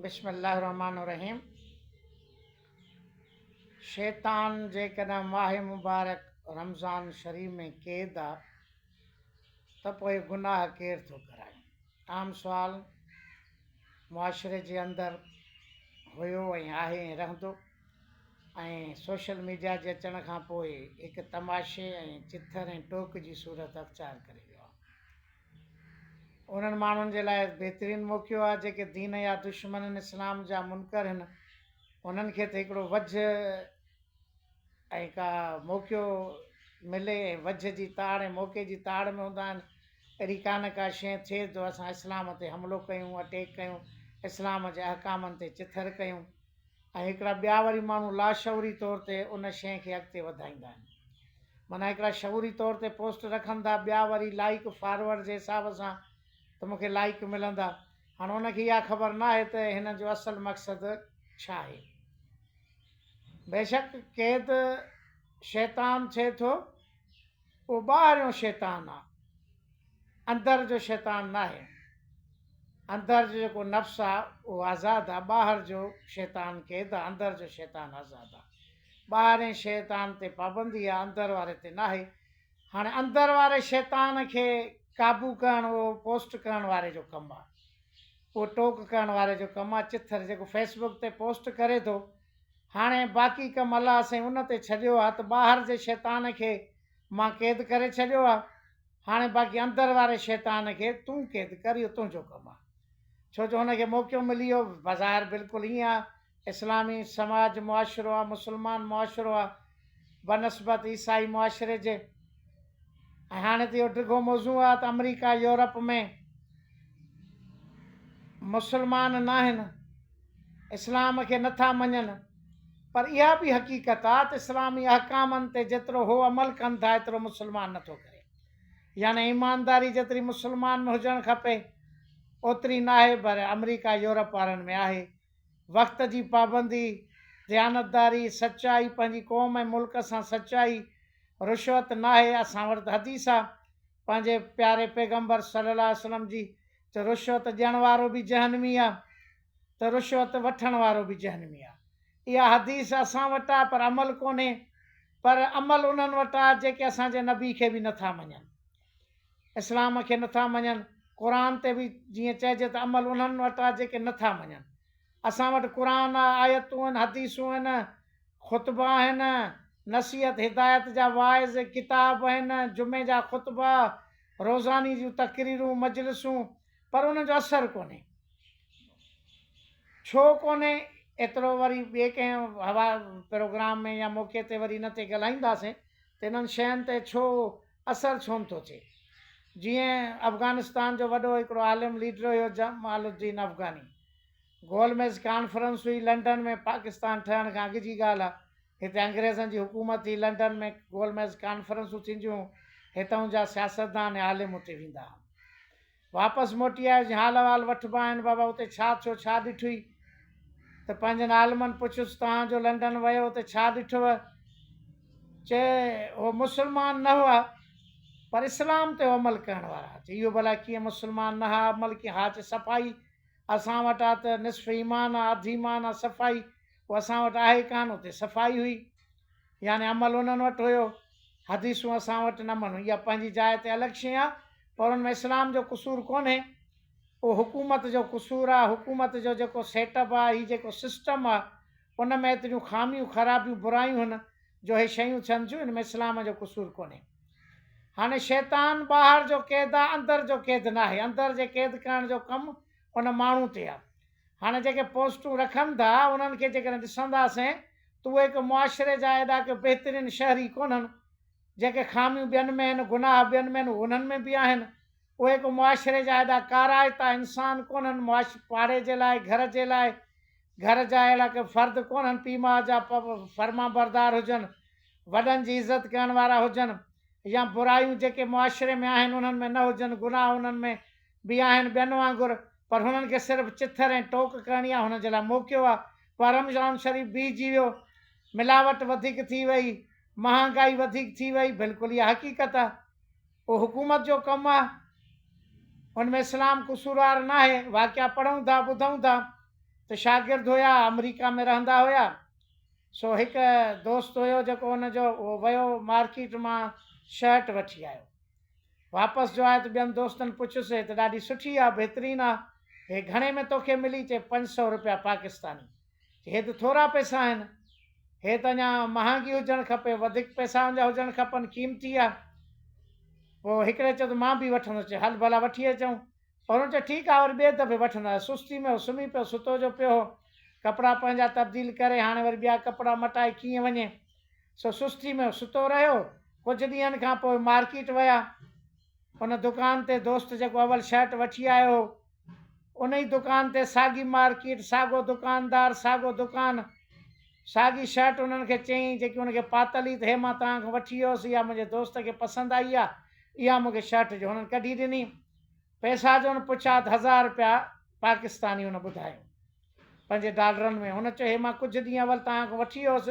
بسم الله الرحمٰن الرحيم شيطان جيڪڏهن ماهه مبارڪ رمضان شريف ۾ قيد آ ته پوء گناهه ڪير ٿو ڪرائي عام سوال معاشري جي اندر هيو ۽ آهي ۽ رهندو ۽ سوشل ميڊيا جي اچڻ کان پوء هڪ تماشي ۽ چٿر ۽ ٽوڪ جي صورت اختيار ڪري ويو آ انهن ماڻهن جي لاء بهترين موقعو آهي جيڪي دين جا دشمن آهن، اسلام جا منڪر هن، انهن کي ته هڪڙو وجهه ۽ ڪا موقعو ملي ۽ وجهه جي تاڙ ۽ موقعي جي تاڙ ۾ هوندا آهن، اهڙي ڪا نه ڪا شيء ٿئي جو اسان اسلام تي حملو ڪيون، اٽيڪ ڪيون، اسلام جي احڪامن تي چٿر ڪيون. ۽ هڪڙا ٻيا وري ماڻهو لاشعوري طور تي ان شيء کي اڳتي وڌائيندا آهن. معنيٰ هڪڙا شعوري طور تي پوسٽ رکن ٿا، ٻيا وري لائيڪ فارورڊ جي حساب سان ته مون کي لائيڪ ملندا. هاڻ ان کي اها خبر ناهي ته هنن جو اصل مقصد ڇا آهي. بيشڪ قيد شيطان ٿئي ٿو. اهو ٻاهريون شيطان آ اندر جو شيطان ناهي اندر جو جيڪو نفس آ اهو آزاد آ ٻاهر جو شيطان قيد آ اندر جو شيطان آزاد آ ٻاهرين شيطان تي پابندي آ اندر واري تي ناهي هاڻي اندر واري شيطان کي قابو ڪرڻ اهو پوسٽ ڪرڻ واري جو ڪم آ اهو ٽوڪ ڪرڻ واري جو ڪم آ چٿر جيڪو فيسبوڪ تي پوسٽ ڪري ٿو هاڻي باقي ڪم الله سائين ان تي ڇڏيو آ ته ٻاهر جي شيطان کي مان قيد ڪري ڇڏيو آ هاڻي باقي اندر واري شيطان کي تون قيد ڪر اهو تنهنجو ڪم آ ڇو جو هن کي موقعو ملي ويو بظاهر بلڪل ائين آ اسلامي سماج معاشرو آ مسلمان معاشرو آ بنسبت عيسائي معاشري جي. ۽ هاڻي ته اهو ڊگهو موضوع آهي ته آمريڪا يورپ ۾ مسلمان ناهن اسلام کي نٿا مڃن پر اها به حقيقت آهي ته اسلامي احڪامن تي جيترو هو عمل ڪن ٿا ايترو مسلمان نٿو ڪري يعني ايمانداري جيتري مسلمان ۾ هجڻ کپي اوتري ناهي پر آمريڪا يورپ وارن ۾ آهي وقت جي پابندي، ديانتداري، سچائي، پنهنجي قوم ۽ ملڪ سان سچائي، رشوت ناهي، اسان وٽ حديث آ پنهنجي پياري پيغمبر صلي الله عليه وسلم جي ته رشوت ڏيڻ وارو به جهنمي آ ته رشوت وٺڻ وارو به جهنمي آ اها حديث اسان وٽ آ پر عمل ڪونهي پر عمل انهن وٽ آ جيڪي اسان جي نبي کي به نٿا مڃن. اسلام کي نٿا مڃن، قرآن تي به جيئن چئجي ته عمل انهن وٽ آهي جيڪي نٿا مڃن. اسان وٽ قرآن آهي، آيتون آهن، حديثون آهن، خطبا آهن، نصيحت هدايت جا واعظ، ڪتاب آهن، جمعي جا خطبا، روزاني جون تقريرون، مجلسون، پر انهن جو اثر ڪونهي. ڇو ڪونهي؟ ايترو وري ٻئي ڪنهن پروگرام ۾ يا موقعي تي وري ان تي ڳالهائينداسين ته انهن شين تي ڇو اثر ڇو نه ٿو ٿئي. جيئن افغانستان جو وڏو هڪڙو عالم ليڊر هيو جمال الدين افغاني. گول ميز ڪانفرنس هئي لنڊن ۾ پاڪستان ٺهڻ کان اڳ جي ڳالهه آ. هتي انگريزن جي حڪومت هئي لنڊن ۾ گول ميز ڪانفرنسون ٿينديون هون هتئون جا سياستدان ۽ عالم اتي ويندا هون. واپس موٽي آيس جي حال احوال وٺبا آهن بابا اتي ڇا ٿيو ڇا ڏٺوئي ته پنهنجن عالمن پڇيس توهان جو لنڊن ويو اتي ڇا ڏٺوء چي هو مسلمان نه هئا پر اسلام تي عمل ڪرڻ وارا هئا چي اهو ڀلا ڪيئن مسلمان نه هئا عمل ڪيئن ها چي صفائي اسان وٽ آ ته نصف ايمان آ اڌ ايمان آ صفائي هو اسان وٽ آهي ڪانه اتي صفائي هئي يعني عمل انهن وٽ هيو، حديثون اسان وٽ نه مڃ. اها پنهنجي جاء تي الڳ شيء آ، پر ان ۾ اسلام جو قصور ڪونهي. اهو حڪومت جو قصور آ، حڪومت جو جيڪو سيٽ اپ آ، هي جيڪو سسٽم آ، ان ۾ ايتريون خاميون، خرابيون، برايون هن، جو هي شيون ٿين ٿيون، ان ۾ اسلام جو قصور ڪونهي. هاڻي شيطان ٻاهر جو قيد آ، اندر جو قيد ناهي. اندر جي قيد ڪرڻ جو ڪم ان ماڻهو تي آ. هاڻي جيڪي پوسٽون رکن ٿا انهن کي جيڪڏهن ڏسنداسين ته اهي ڪو معاشري جا ايڏا ڪو بهترين شهري ڪونهن. جيڪي خاميون ٻين ۾ آهن، گناهه ٻين ۾ آهن اهي انهن ۾ به آهن. اهي ڪو معاشري جا ايڏا ڪارائتا انسان ڪونهن، معاش پاڙي جي لاء، گهر جي لاء، گهر جا اهڙا ڪو فرد ڪونهن، پيء ماء جا فرمانبردار هجن، وڏن جي عزت ڪرڻ وارا هجن يا برائيون جيڪي معاشري ۾ آهن انهن ۾ نه هجن، گناهه انهن ۾ به آهن ٻين وانگر پر هنن کي صرف چٿر ۽ ٽوڪ ڪرڻي آهي هنن جي لاء موقعو آهي پر رمضان شريف بيهجي ويو ملاوٽ وڌيڪ ٿي وئي مهانگائي وڌيڪ ٿي وئي بلڪل اها حقيقت آهي اهو حڪومت جو ڪم آهي ان ۾ اسلام قصوروار ناهي واقعا پڙهون ٿا ٻڌون ٿا ته شاگرد هيا آمريڪا ۾ رهندا هيا سو هڪ دوست هيو جيڪو ان جو اهو ويو مارڪيٽ مان شرٽ وٺي آيو واپس جو آيو ته ٻين دوستن پڇيس، هي ته ڏاڍي سٺي آ، بهترين آ، هي گهڻي ۾ توکي ملي؟ چي، پنج سؤ روپيا پاڪستاني. چي، هي ته ٿورا پئسا آهن، هي ته اڃا مهانگي هجڻ کپي، وڌيڪ پئسا ان جا هجڻ کپن، قيمتي آ. پوء هڪڙي چيو ته مان به وٺندس. چي، هل ڀلا وٺي اچون. پر هن چيو، ٺيڪ آ، وري ٻئي دفعي وٺندس. سستي ۾ هو، سمهي پيو، ستو جو پيو هو. ڪپڙا پنهنجا تبديل ڪري، هاڻي وري ٻيا ڪپڙا مٽائي ڪيئن وڃي؟ سو سستي ۾ ستو رهيو. ڪجهه ڏينهن کان پوء مارڪيٽ ويا. ان دڪان تي دوست جيڪو اول شرٽ وٺي آيو هو، ان ئي دڪان تي ساڳي مارڪيٽ، ساڳو دڪاندار، ساڳو دڪان، ساڳي شرٽ انهن کي چيائين جيڪي ان کي پاتل هئي ته هي مان توهان کان وٺي آيس، اها منهنجي دوست کي پسند آئي آهي، اها مون کي شرٽ جو هنن ڪڍي ڏني. پئسا جو هن پڇيو ته هزار رپيا پاڪستاني هن ٻڌايو پنهنجي ڊالرن ۾ هن چيو هي مان ڪجهه ڏينهن اول توهان کان وٺي ويو هوس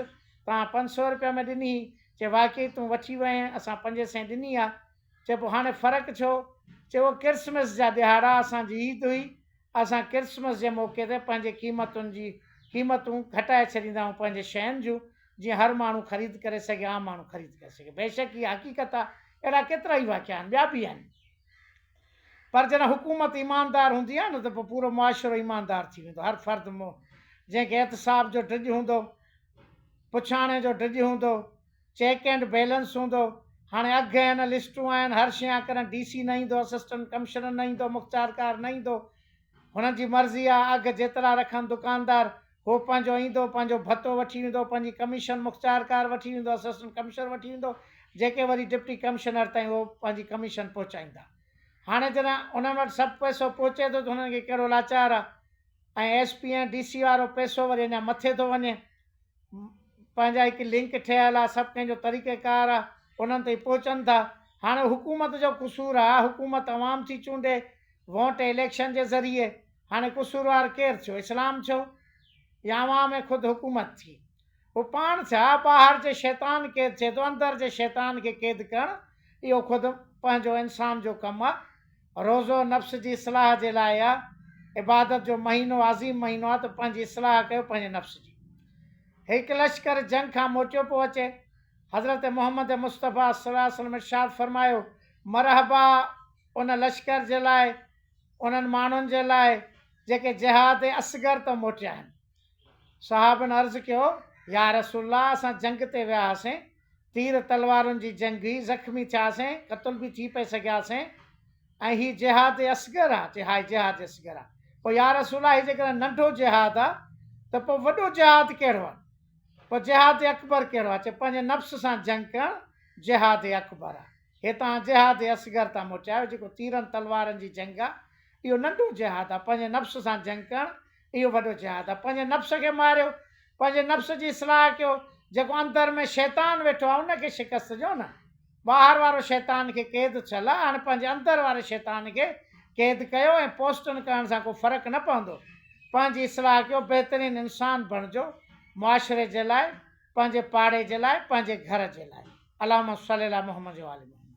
توهان پنج سؤ رپيا ۾ ڏني هئي چي واقعي تون وٺي وئي آهين اسان پنجين سئين ڏني آهي چي پوء هاڻي فرق ڇو چي اهو ڪرسمس جا ڏهاڙا اسان جي عيد هئي اسان ڪرسمس جي موقعي تي پنهنجي قيمتن جي قيمتون گهٽائي ڇڏيندا آهيون پنهنجي شين جون جيئن هر ماڻهو خريد ڪري سگهي عام ماڻهو خريد ڪري سگهي بيشڪ هي حقيقت آهي اهڙا ڪيترا ئي واقعا آهن ٻيا به آهن پر جڏهن حڪومت ايماندار هوندي آهي نه ته پوء پورو معاشرو ايماندار ٿي ويندو. هر فرد مون جنهن کي احتساب جو ڊڄ هوندو، پڇاڻي جو ڊڄ هوندو، چيڪ اينڊ بيلنس هوندو، هاڻي اگهه آهن، لسٽون آهن، هر شيء آهي، ڪڏهن ڊي سي نه ايندو، اسسٽنٽ ڪمشنر نه ايندو، مختيارڪار نه ايندو، هنن جي مرضي آ اگهه جيترا رکن دڪاندار هو پنهنجو ايندو پنهنجو ڀتو وٺي ويندو پنهنجي ڪميشن مختيارڪار وٺي ويندو اسسٽنٽ ڪمشنر وٺي ويندو جيڪي وري ڊپٽي ڪمشنر تائين هو پنهنجي ڪميشن پهچائيندا هاڻي جڏهن انهن وٽ سڀ پئسو پهچي ٿو ته هنن کي ڪهڙو لاچار آ ۽ ايس پي ۽ ڊي سي وارو پئسو وري اڃا مٿي ٿو وڃي پنهنجا هڪ لنڪ ٺهيل آ سڀ ڪنهن جو طريقه ڪار آ انهن تائين پهچن ٿا هاڻي حڪومت جو قصور آ حڪومت عوام ٿي چونڊي ووٽ اليڪشن جي ذريعي هاڻي قصوروار ڪير ٿيو اسلام ٿيو يا عوام ۽ خود حڪومت ٿي هو پاڻ ٿيا ٻاهر جي شيطان قيد ٿئي ٿو اندر جي شيطان کي قيد ڪرڻ اهو خود پنهنجو انسان جو ڪم آ روزو نفس جي اصلاح جي لاء آ، عبادت جو مهينو عظيم مهينو آ ته پنهنجي اصلاح ڪيو پنهنجي نفس جي. هڪ لشڪر جنگ کان موٽيو پيو اچي، حضرت محمد مصطفيٰ صلي الله عليه وسلم ارشاد فرمايو، مرحبا ان لشڪر جي لاء، انهن ماڻهن جي لاء جيڪي جهاد اصغر تان موٽيا آهن. صحابن عرض ڪيو، يارسول الله اسان جنگ تي ويا هئاسين، تير تلوارن جي جنگ هئي، زخمي ٿياسين، قتل به ٿي پئي سگهياسين ۽ هي جهاد اصغر آ، چي ها هي جهاد اصغر آ، پوء يا رسول الله هي جيڪڏهن ننڍو جهاد آ ته پوء وڏو جهاد ڪهڙو آ؟ پوء جهاد اڪبر ڪهڙو آ؟ چي پنهنجي نفس سان جنگ ڪرڻ جهاد اڪبر آ، هي توهان جهاد اصغر تان موٽيا آهيو، جيڪو تيرن تلوارن جي جنگ آ، اهو ننڍو جهاد آ، پنهنجي نفس سان جنگ ڪرڻ اهو وڏو جهاد آهي پنهنجي نفس کي ماريو پنهنجي نفس جي اصلاح ڪيو جيڪو اندر ۾ شيطان ويٺو آهي ان کي شڪست ڏيو نه ٻاهر وارو شيطان کي قيد ٿيل آهي هاڻي پنهنجي اندر واري شيطان کي قيد ڪيو ۽ پوسٽن ڪرڻ سان ڪو فرق نه پوندو پنهنجي اصلاح ڪيو بهترين انسان بڻجو معاشري جي لاء پنهنجي پاڙي جي لاء پنهنجي گهر جي لاء اللهم صلي علي محمد وآل محمد.